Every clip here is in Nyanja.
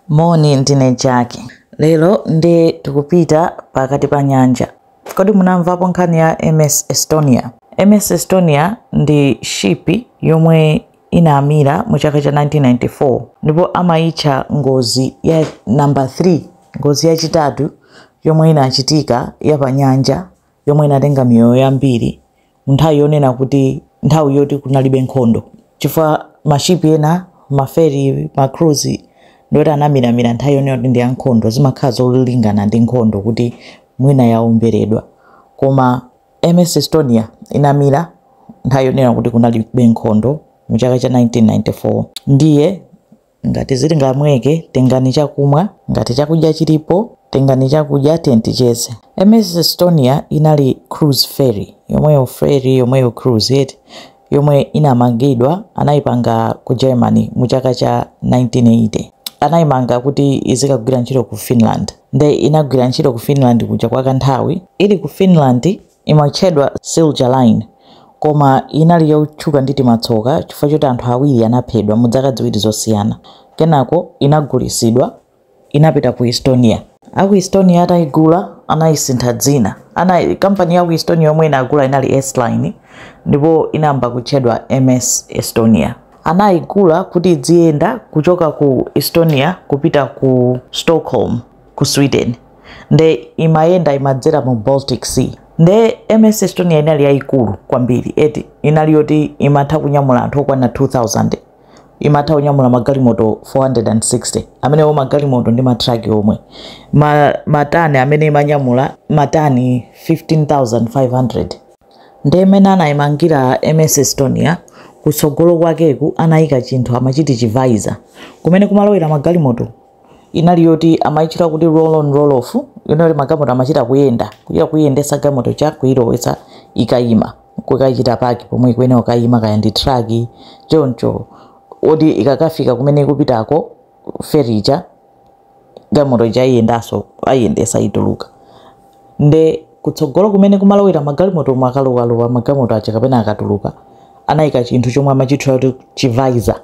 Moni, ndine Jack. Lero nde tikupita pakati pa nyanja. Kodi munamvapo nkhani ya MS Estonia? MS Estonia ndi shipi yomwe inamira mu chaka cha 1994 ndipo amayitcha ngozi ya namba 3 ngozi yachitatu yomwe inachitika ya pa nyanja yomwe inatenga miyoyo yambiri munthawi yonena kuti nthawi yoti kunalibe nkhondo chifukwa mashipi ena maferi macruise ndi oti anamiramira nthawi yonena kuti ndi yankhondo zimakhala zolingana ndi nkhondo kuti mwina yaomberedwa koma ms estonia inamira nthawi yonena kuti kunalibe nkhondo mu chaka cha 1994 ndiye Ngati zili ngamweke, tengani chakumwa, ngati chakudya chilipo, tengani chakudya, tiyeni ticheze. MS Estonia inali cruise ferry yomwe ili ferry yomwe ili cruise eti yomwe inamangidwa anayipanga ku Germany mu chaka cha 1980 anayimanga kuti izikagwira ntchito ku Finland nde inagwira ntchito ku Finland kuja kwa kanthawi ili ku Finland Imatchedwa Silja Line, koma inali yotchuka ndi timatsoka chifukwa choti anthu awiri anaphedwa mu dzaka dziwiri zosiyana. Kenako inagulisidwa, inapita ku Estonia. A ku Estonia atayigula, anayisintha dzina. Ana, kampani ya ku Estonia yomwe inagula inali Estline, ndipo inayamba kutchedwa MS Estonia. Anayigula kuti idziyenda kuchoka ku Estonia kupita ku Stockholm. ku sweden nde imayenda imadzera mu baltic sea nde ms estonia inali yayikulu kwambiri eti inali yoti imatha kunyamula anthu okwana 2000 imatha kunyamula magalimoto 460 amenewo magalimoto ndi matraki omwe Ma, matani amene imanyamula matani 15500 nde mmene anayimangira ms estonia kutsogolo kwakeku anayika chinthu amachiti chivisor kumene kumalowera magalimoto inali yoti amayitchula kuti roll on roll off yonena yoti magalimoto amachita kuyenda kuchita kuyendesa galimoto ija kuyilowetsa ikayima kukachita paki pomwe ikuyenera kukayima kaya ndi truck choncho oti ikakafika kumene ikupitako ferry ija galimoto ija ayiyendaso ayiyendesa ituluka nde kutsogolo kumene kumalowera magalimoto oma akalowa magalimoto aja kapena akatuluka anayika chinthu chomwe amachitchula kuti chivisor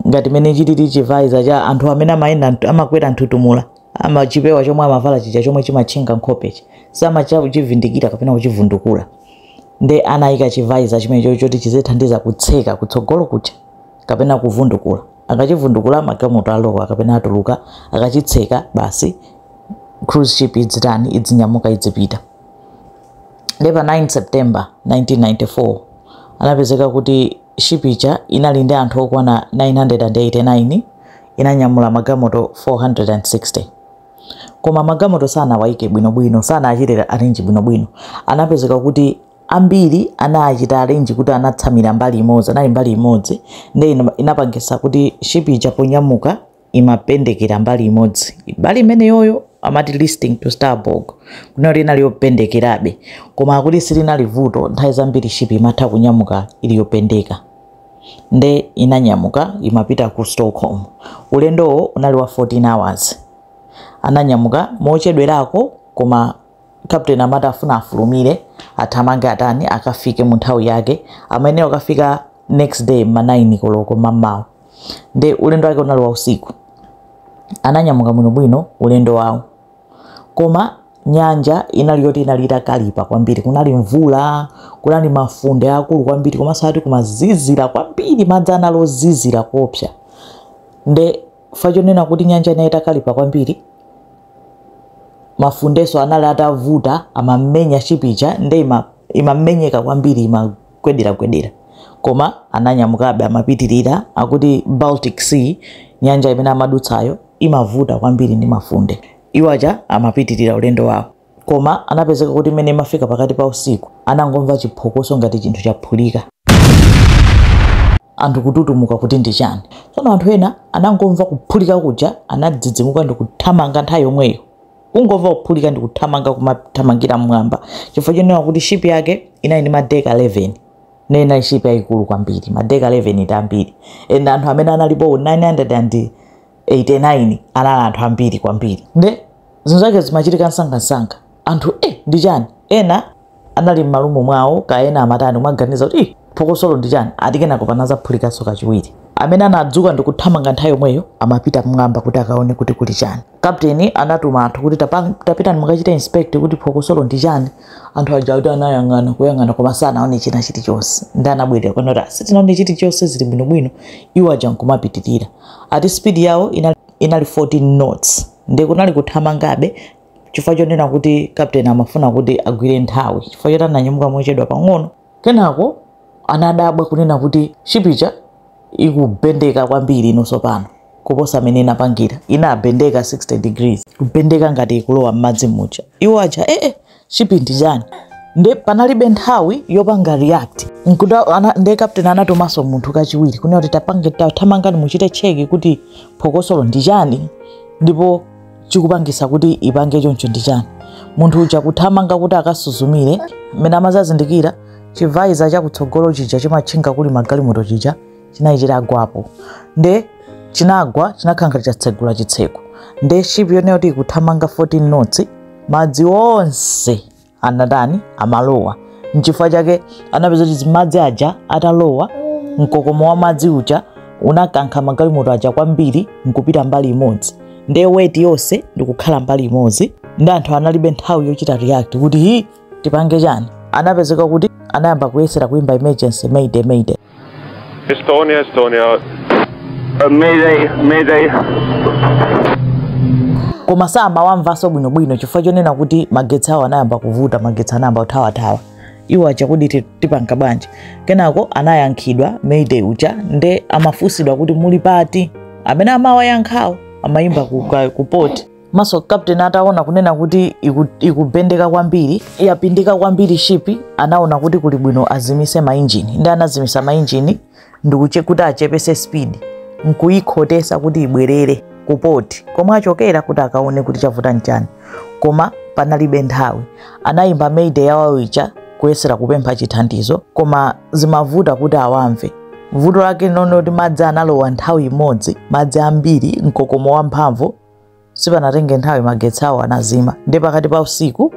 ngati mene chilili chivisor cha anthu amene amayenda mtu- amakwera nthuthumula ama chipewa chomwe amavala chija chomwe chimatchinga nkhopechi samatha kuchivindikira kapena kuchivundukula nde anayika chivisor chimenecho choti chizithandiza kutseka kutsogolo kuja kapena kuvundukula akachivundukula magalimoto alowa kapena atuluka akachitseka basi cruise ship idzitani idzinyamuka idzipita nde pa 9 september 1994 anapezeka kuti shipi ija inali ndi anthu okwana 989 inanyamula magamoto 460 koma magamoto sanawayike bwinobwino sanachite arrange bwinobwino anapezeka kuti ambiri anachita arrange kuti anatsamira mbali imodzi anali mbali imodzi nde ina- inapangitsa kuti shipi ija ponyamuka imapendekera mbali imodzi mbali imeneyoyo amati listing to starboard kunena kuti inali yopendekerabe koma akuti silinali vuto nthawi zambiri ship imatha kunyamuka ili yopendeka nde inanyamuka imapita ku stockholm ulendowo unali wa 14 hours ananyamuka mochedwerako koma captain amati afuna afulumire athamange atani akafike mu nthawi yake amayenera kukafika next day ma 9 koloko mamawa nde ulendo wake unali wa usiku ananyamuka bwinobwino ulendo wawo koma nyanja inali yoti inali itakalipa kwambiri kunali mvula kunali mafunde akulu kwambiri komanso ati kumazizira kwambiri madzi anali ozizira kopsa nde fa chonena kuti nyanja inali itakalipa kwambiri mafundeso anali atavuta amamenya shipi ija nde ima- imamenyeka kwambiri imagwe gwedera-gwedera. Koma ananyamukabe, amapitirira. Akuti Baltic Sea, nyanja imene amadutsayo, imavuta kwambiri ndi mafunde. Iwo aja amapitirira ulendo wawo. Koma anapezeka kuti mmene imafika pakati pa usiku, anangomva chiphokoso ngati chinthu chaphulika. Anthu kututumuka kuti ndi chani. Tsono anthu ena anangomva kuphulika kuja, anadzidzimuka ndi kuthamanga nthawi yomweyo. kungomva kuphulika ndikuthamanga kumathamangira mmwamba chifukwa chonena kuti shipi yake inali ndi madeka 11 nde inali shipi yayikulu kwambiri madeka 11 ndi ambiri and anthu amene analipo 989 anali anthu ambiri kwambiri nde zinthu zake zimachitika msangamsanga anthu e ndi chani ena anali m'marumu mwawo kaya ena amatani kumaganiza kuti ih phokosolo ndi chani ati kenako panazaphulikanso kachiwiri amene anadzuka ndi kuthamanga nthawi yomweyo amapita mmwamba kuti akaone kuti kuli chani kapteni anatuma anthu kuti "Tapa- tapitani mukachita inspect kuti phokosolo ndi chani anthu aja ati anayang'ana kuyang'ana koma sanaone china chilichonse nde anabwerera kunena kuti "A sitinaone chilichonse zili bwinobwino iwo aja nkumapitirira ati speed yawo inali, inali 14 knots nde kunali kuthamangabe chifukwa chonena kuti kapteni amafuna kuti agwire nthawi chifukwa choti ananyamuka mochedwa pang'ono kenako anadabwa kunena kuti shipi ija ikupendeka kwambiri inoso pano kuposa mmene inapangira inapendeka 60 degrees kupendeka ngati ikulowa m'madzi muja iwo aja ee eh, eh, shipi ndi chani nde panalibe nthawi yopanga react nkuda ana, nde captain anatumaso munthu kachiwiri kunena kuti tapange tathamangani muchite cheki kuti phokosolo ndi chani ndipo chikupangisa kuti ipange choncho ndi chani munthu uja kuthamanga kuti akasuzumire mmene amazazindikira chivaiza chakutsogolo chija chimatchinga kuli magalimoto chija chinali chitagwapo nde chinagwa chinakankha chatsegula chitseko nde shipi yonena kuti ikuthamanga 14 knots madzi onse anatani amalowa nchifukwa chake anapeza kuti madzi aja atalowa mkokomo wa madzi uja unakankha magalimoto aja kwambiri nkupita mbali imodzi ndiye weight yonse ndikukhala mbali imodzi nde anthu analibe nthawi yochita react kuti hi tipange chani anapezeka kuti anayamba kuyesera kuimba emergency mayday mayday Estonia, Estonia. Uh, mayday, mayday. koma samawamvanso bwinobwino chifukwa chonena kuti magetsi awo anayamba kuvuta magetsi anayamba kuthawathawa iwo aja kuti ti- tipanga bwanji kenako anayankhidwa mayday uja nde amafunsidwa kuti muli pati amene amawayankhawo amayimba ku, ka- ku port maso captain ataona kunena kuti iku- ikubendeka kwambiri yapindika kwambiri shipi anaona kuti kuli bwino azimise mainjini nde anazimisa mainjini ndi kuti achepese speed nkuyikhotesa kuti ibwerere ku port komwe achokera kuti akaone kuti chavuta nchani koma panalibe nthawi anayimba mayday yawo ija kuyesera kupempha chithandizo koma zimavuta kuti awamve vuto lake lonena kuti madzi analowa nthawi imodzi madzi ambiri mkokomo wamphamvu sipanatenge nthawi magetsi awo anazima ndi pakati pa usiku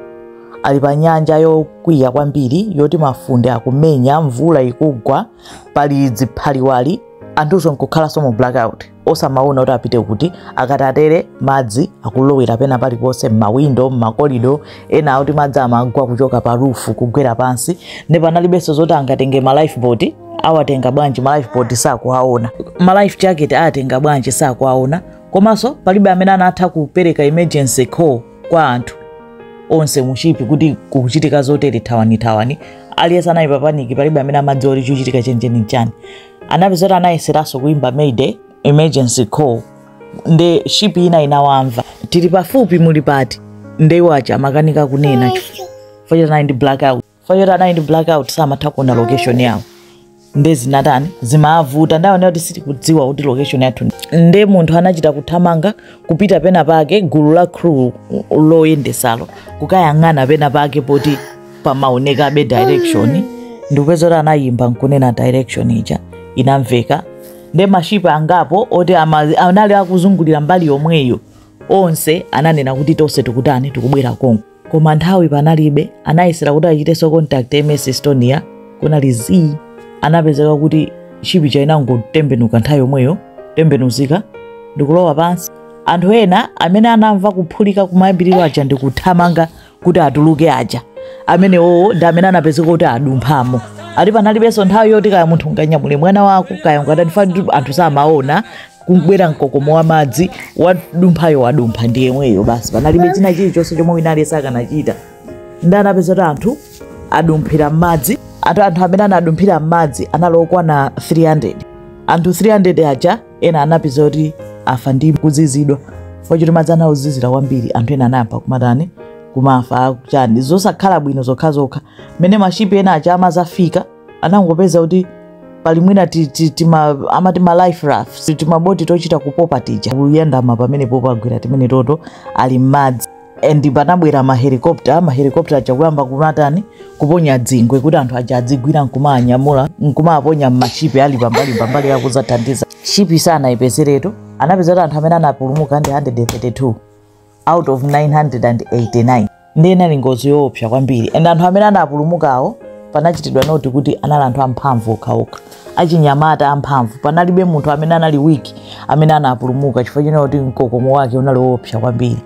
ali pa nyanja yokwiya kwambiri yoti mafunde akumenya mvula ikugwa pali dziphaliwali anthuso nkukhalanso mu blackout osamaona kuti apite kuti akatatere madzi akulowera pena paliponse m'mawindo m'makolido ena akuti madzi amagwa kuchoka pa rufu kugwera pansi nde panalibenso zoti angatenge ma lifeboat awatenga bwanji ma lifeboat sakuwaona ma life jacket ayatenga bwanji sakuwaona komanso palibe amene anatha kupereka emergency call kwa anthu onse mu shipi kuti kukuchitika zotere thawanithawani aliyense anali papaniki palibe amene amadziwa kuti chikuchitika chenicheni nchani anapeza kuti anayeseranso kuimba mayday emergency call nde shipi ina inawamva tili pafupi muli pati nde iwo aja amakanika kunena chifukwa choti anali ndi blackout chifukwa choti anali ndi blackout samatha kuona location yawo nde zinatani zimavuta nde ananena kuti sitikudziwa kuti location yathu nde munthu anachita kuthamanga kupita pena pake gulu la crew loyendesalo kukayang'ana pena pake poti pamaonekabe direction nde anapeza kuti anayimba nkunena direction ija inamveka nde mashipi angapo oti ama- anali akuzungulira mbali yomweyo onse ananena kuti tonse tikutani tikubwera konko koma nthawi panalibe anayesera kuti achitenso contact ms estonia kunali zii anapezeka kuti shipi chainangotembenuka nthawi yomweyo tembenuzika ndikulowa pansi anthu ena amene anamva kuphulika kumayambiriro aja ndikuthamanga kuti atuluke aja amenewowo ndi amene anapezeka kuti adumphamo ati panalibenso nthawi yoti kaya munthu unganyamule mwana wako kaya ungatani fani anthu samaona kubwera mkokomo wa madzi wadumphayo wadumpha ndi yemweyo basi panalibe china chilichonse chomwe wina aliyense akanachita nde anapeza kuti anthu adumphira m'madzi ati anthu amene anadumphira m'madzi anali okwana 300 anthu 300 aja ena anapeza kuti afa ndi kuzizidwa chifukwa choti madzi anali ozizira kwambiri anthu ena anayamba kumatani kumafa chani zosakhala bwino zokhazokha mmene mashipi ena aja amazafika anangopeza kuti pali mwina ti- ti- tima- amati ma life rafts timaboti tochita kupopa tija kuyandama pomwe popagwira timeneto ali m'madzi and panabwera mahelikopta mahelikopta aja kuyamba kumatani kuponya dzingwe kuti anthu aja adzigwira nkumaanyamula nkumaponya mmashipi ali pambali pambali akuzathandiza shipi sanayipezeretu anapeza kuti anthu amene anapulumuka ndi 132 out of 989 ndiye inali ngozi yoopsa kwambiri and anthu amene anapulumukawo panachitidwa note kuti anali anthu amphamvu okhaokha achinyamata amphamvu panalibe munthu amene anali weak amene anapulumuka chifukwa chonena kuti mkokomo wake unali woopsa kwambiri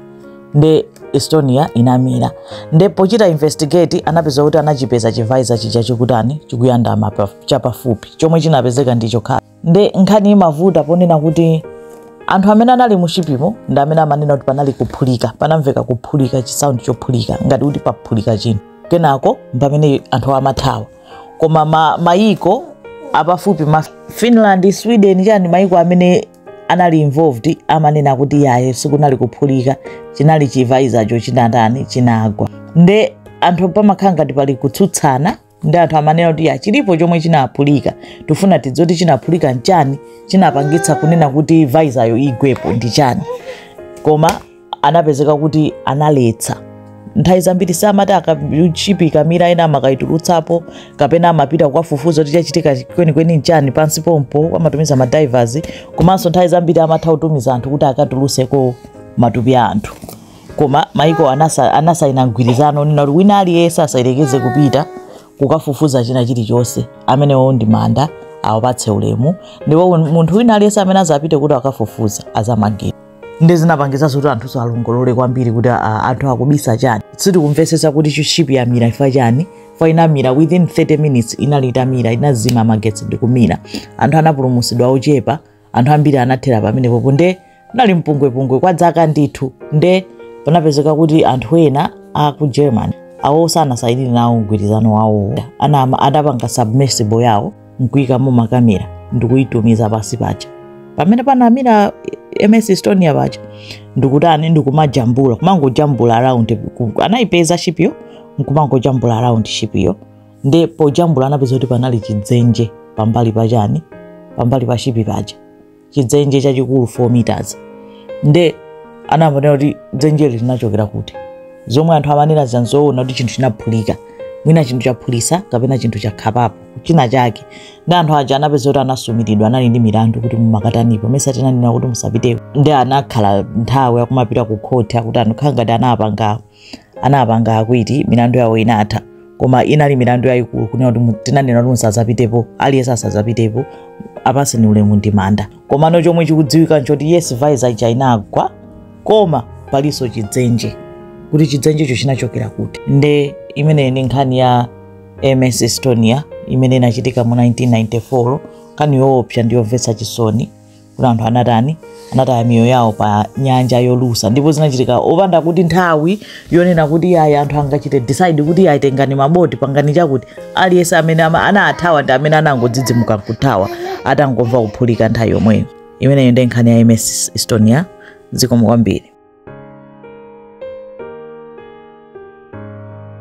nde estonia inamira nde pochita investigate anapeza kuti anachipeza chivaiza chija chikutani chikuyandama pa- chapafupi chomwe chinapezeka ndi chokhacho nde nkhani imavuta ponena kuti anthu amene anali mushipimo ndi amene amanena kuti panali kuphulika panamveka kuphulika chisaundi chophulika ngati kuti paphulika chinthu kenako mpamene anthu amathawa koma ma- mayiko apafupi ma finland sweden chani mayiko amene anali involved amanena kuti yaye sikunali kuphulika chinali chivaizacho chinatani chinagwa nde anthu pamakhala ngati pali kutsutsana ndi anthu amanena kuti ya chilipo chomwe chinaphulika tifuna tidziwe kuti chinaphulika nchani chinapangitsa kunena kuti vaizayo igwepo ndi chani koma anapezeka kuti analetsa nthawi zambiri amati shipi ikamira ena amakayitulutsapo kapena amapita kukafufuza kuti chachitika kwenikweni nchani pansi pompo amatumiza madivers komanso nthawi zambiri amatha kutumiza anthu kuti akatulutseko matupi a anthu koma maiko anasa- anasaina mgwirizano onena kuti wina aliyense asayerekeze kupita kukafufuza china chilichonse amenewo ndi manda awapatse ulemu ndipo munthu wina aliyense amene azapite kuti akafufuze azamangidwa nde zinapangitsanso kuti anthu alongolole kwambiri kuti ah, anthu akubisa chani sitikumvetsetsa kuti ship yamira ifa chani fa inamira within 30 minutes inali itamira inazima magetsi ndikumira anthu anapulumutsidwa ochepa anthu ambiri anathera pamenepo nde kunali mpungwepungwe kwa dzaka ndithu nde panapezeka kuti anthu ena a ku germany awo sanasayinire nawo mgwirizano wawo adapanga submersible yawo nkuyikamo makamera ndikuyitumiza pansi paja pamene panamira ms estonia paja ndikutani ndikumajambula kumangojambula around ku- anayipeza shipiyo nkumangojambula around shipiyo nde pojambula anapeza kuti panali chidzenje pambali pa chani pambali pa shipi paja chidzenje chachikulu 4 meters nde amanena kuti dzenjeli linachokera kuti zomwe anthu amanena zanzoona kuti chinthu chinaphulika mwina chinthu chaphulitsa kapena chinthu chakhapapo china chake ndi anthu aja anapeza kuti anasumiridwa anali ndi milandu kuti mumakatanipo mesa tinanena kuti musapiteko ndi anakhala nthawi akumapita ku khoti akuti anakhala ngati anapanga anapanga akwiti milandu yawo inatha koma inali milandu yayikulu kunena kuti mu- tinanena kuti musadzapitepo aliyense asadzapitepo apatseni ulemu ndi manda komano chomwe chikudziwika nchoti yes visor ija inagwa koma palinso chidzenje kuti chidzenjecho chinachokera kuti nde imeneyi ndi nkhani ya ms estonia imene inachitika mu 1994 nkhani yoopsa ndi yomvetsa chisoni kuti anthu anatani anataya miyoyo yawo pa nyanja yolusa ndipo zinachitika opanda kuti nthawi yonena kuti ayi anthu angachite decide kuti ayi tengani maboti pangani chakuti aliyense amene ama- anathawa ndi amene anangodzidzimuka nkuthawa atangomva kuphulika nthawi yomweyo imeneyo ndi nkhani ya ms estonia zikomo kwambiri